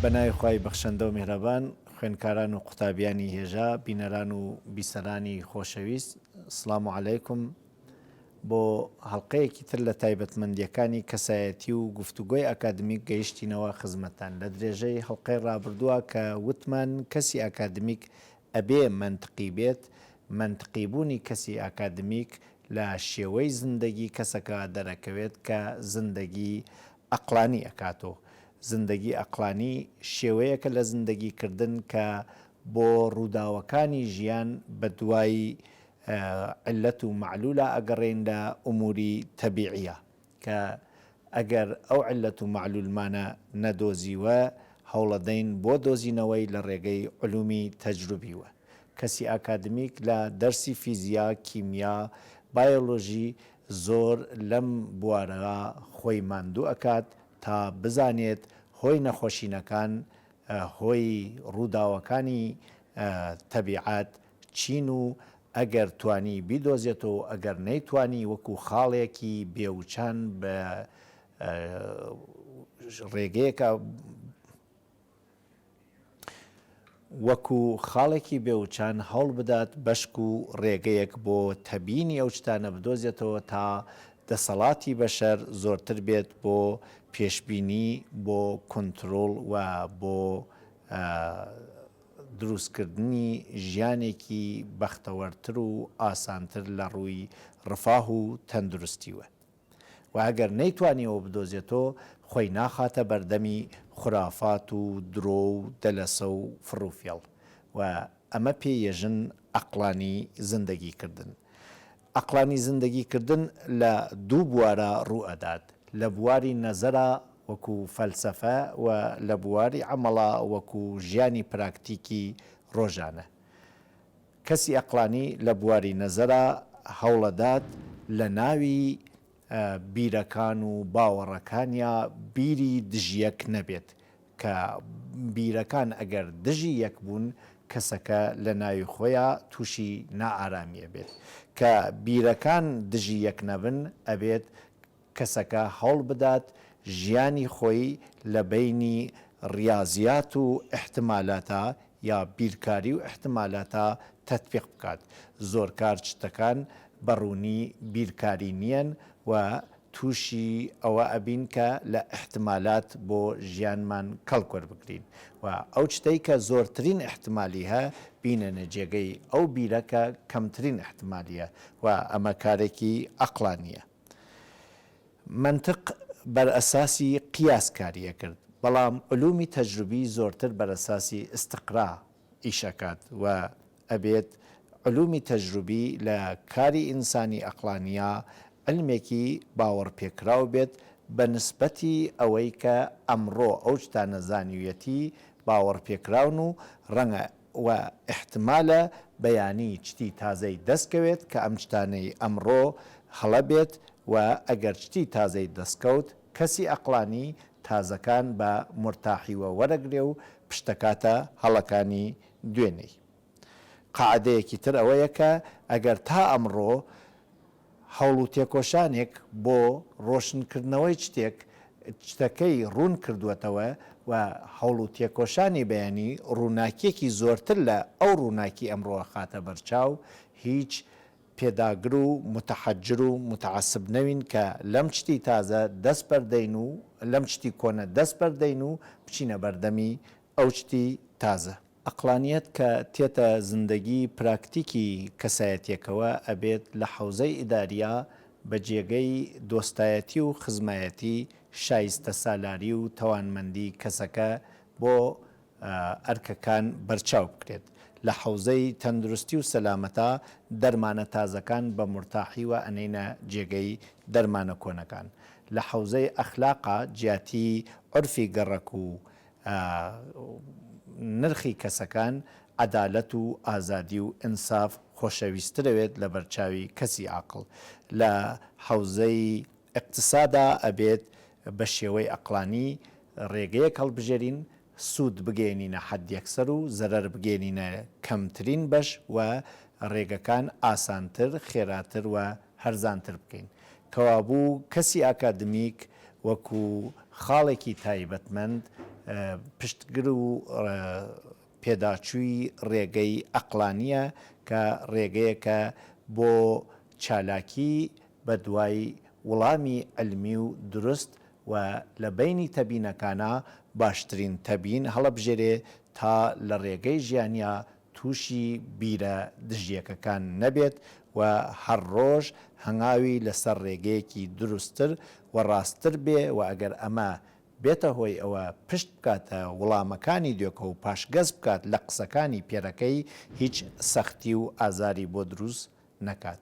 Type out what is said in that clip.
بە ناوی خوای بەخشەندە و میهرەبان، خوێندکاران و قوتابیانی هێژا، بینەران و بیسەرانی خۆشەویست، سڵام و عەلەیکم. بۆ هەڵقەیەکی تر لە تایبەتمەندییەکانی کەسایەتی و گفتوگۆی ئاکادمیک گەیشتینەوە خزمەتتان. لە درێژەی هەڵقەی ڕابردووە کە وتمان کەسی ئاکادمیک ئەبێ مەنتقی بێت، مەنتقی بوونی کەسی ئاکادمیک لە شێوەی زندەگی کەسەکە دەرەکەوێت کە زندەگی ئەقڵانی ئەکات و زندەگی ئەقڵانی شێوەیەکە لە زندەگی کردن کە بۆ ڕووداوەکانی ژیان بە دوای عیللەت و مەعلوولا ئەگەڕێین لە ئومووری تەبیعییە کە ئەگەر ئەو عیللەت و مەعلوولمانە نەدۆزیوە هەوڵەدەین بۆ دۆزینەوەی لە ڕێگەی علوومی تەجروبی و کەسی ئاکادمیک لە دەرسی فیزیا، کیمیا، بایۆلۆژی زۆر لەم بوارە خۆی ماندوو ئەکات تا بزانێت هۆی نەخۆشینەکان هۆی ڕووداوەکانی تەبیعەت چین و ئەگەر توانی بیدۆزێتەوەو ئەگەر نەیتوانی وەکو خاڵێکی بێ وچان بە ڕێگەیەکە وەکو خاڵێکی بێ وچان هەوڵ بدات بەشک و ڕێگەیەک بۆ تەبینی ئەو شتانە بدۆزێتەوە تا دەسەڵاتی بەشەر زۆرتر بێت بۆ پێشبینی بۆ کونترۆڵ و بۆ دروستکردنی ژیانێکی بەختەوەرتر و ئاسانتر لە ڕووی ڕفاه و تەندروستیوە و ئەگەر نەیتوانیەوە بدۆزێتۆ خۆی ناخاتە بەردەمی خورافات و درۆ و دەلەسە و فڕوفێڵ و ئەمە پێ یە ژن عەقڵانی زندەگی کردن ئەقڵانی زندەگی کردن لە دوو بوارا ڕوو ئەدات، لە بواری نەزەرا وەکو فەلسەفە و لە بواری عەمەڵا وەکو ژیانی پراکتیکی ڕۆژانە. کەسی ئەقڵانی لە بواری نەزەرا هەوڵ ئەدات لە ناوی بیرەکان و باوەڕەکانیا بیری دژیەک نەبێت، کە بیرەکان ئەگەر دژی یەک بوون کەسەکە لەناوی خۆیا تووشی نائارامی ئەبێت، کە بیرەکان دژی یەک نەبن ئەبێت کەسەکە هەوڵبدات ژیانی خۆی لەبەینی ڕیازیات و ئیحتمالاتا یا بیرکاری و ئیحتمالاتە تەتبیق بکات، زۆر کار چتەکان بە ڕوونی بیرکاری نیەن و تووشی ئەوە ئەبین کە لە ئیحتمالات بۆ ژیانمان کەڵک وەربگرین و ئەو چتەی کە زۆرترین ئیحتمالی هە بینەنە جێگەی ئەو بیرە کە کەمترین ئیحتمالیە و ئەمە کارێکی ئەقڵانیە. مەنتق بەرئەساسی قیاس کاریەکرد بەڵام علومی تەجروبی زۆرتر بەرەساسی استقرا ئیشئەکات و ئەبێت علومی تەجروبی لە کاری ئینسانی ئەقڵانیا علمێکی باوەڕپێکراو بێت بە نسبەتی ئەوەی کە ئەمڕۆ ئەو شتانە زانیویەتی باوەڕپێکراون و ڕەنگە و ئیحتمالە بەیانی چتی تازەی دەست کەوێت کە ئەم چتانەی ئەمڕۆ هەڵە بێت و ئەگەر چتی تازەی دەست کەوت کەسی ئەقڵانی تازەکان بە مورتاحیوە وەرەگرێ و پشتەکاتە هەڵەکانی دوێنێی. قاعدەیەکی تر ئەوەیە کە ئەگەر تا ئەمڕۆ، هەوڵ و تێکۆشانێک بۆ ڕۆشنکردنەوەی چتێک چتەکەی ڕوون کردووەتەوە و هەوڵ و تێکۆشانی بیانی ڕووناکییەکی زۆرتر لە ئەو ڕووناکی ئەمڕۆ ئەخاتە بەرچاو، هیچ پێداگر و متحجر و متعصب نەوین کە لەم چتی تازە دەست بەردەین و لەم چتی کۆنە دەست بەردەین و بچینە بەردەمی ئەو چتی تازە. ئەقڵانیەت کە تێتە زندەگی پراکتیکی کەسایەتیەکەوە ئەبێت لە حەوزەی ئیداریە بە جێگەی دۆستایەتی و خزمایەتی شایستە سالاری و تەوانمەندی کەسەکە بۆ ئەرکەکان بەرچاو بکرێت لە حەوزەی تەندروستی و سەلامەتا دەرمانە تازەکان بە مورتاحی وە ئەنێینە جێگەی دەرمانە کۆنەکان لە حەوزەی ئەخلاقا جیاتی عورفی گەڕەک و ە و نرخی کەسەکان عەدالەت و ئازادی و ئینساف خۆشەویسترەێت لە بەرچاوی کەسی عاقڵ لە حەوزەی ئیقتسادا ئەبێت بە شێوەی ئەقڵانی رێگەیەک هەڵبژێرین سوود بگەێنینە حەدیەکسەر و زەرەر بگەێنینە کەمترین بەش و رێگەکان ئاسانتر خێراتر و هەرزانتر بکەین. کەوابوو کەسی ئاکادمیک وەکو خاڵێکی تایبەتمەند پشتگر و پێداچووی ڕێگەی ئەقڵانییە کە ڕێگەیەکە بۆ چالاکی بە دوای وڵامی عیلمی و دروست و لە بەینی تەبینەکانا باشترین تەبین هەڵەبژێرێ تا لە ڕێگەی ژیانیا تووشی بیرە دژیەکەکان نەبێت و هەر ڕۆژ هەنگاوی لەسەر ڕێگەیەکی دروستتر و ڕاستتر بێ و ئەگەر ئەمە بێتە هۆی ئەوە پشت بکاتە وڵامەکانی دۆکە و پاشگەز بکات لە قسەکانی پێرەکەی هیچ سەختی و ئازاری بۆ دروست نەکات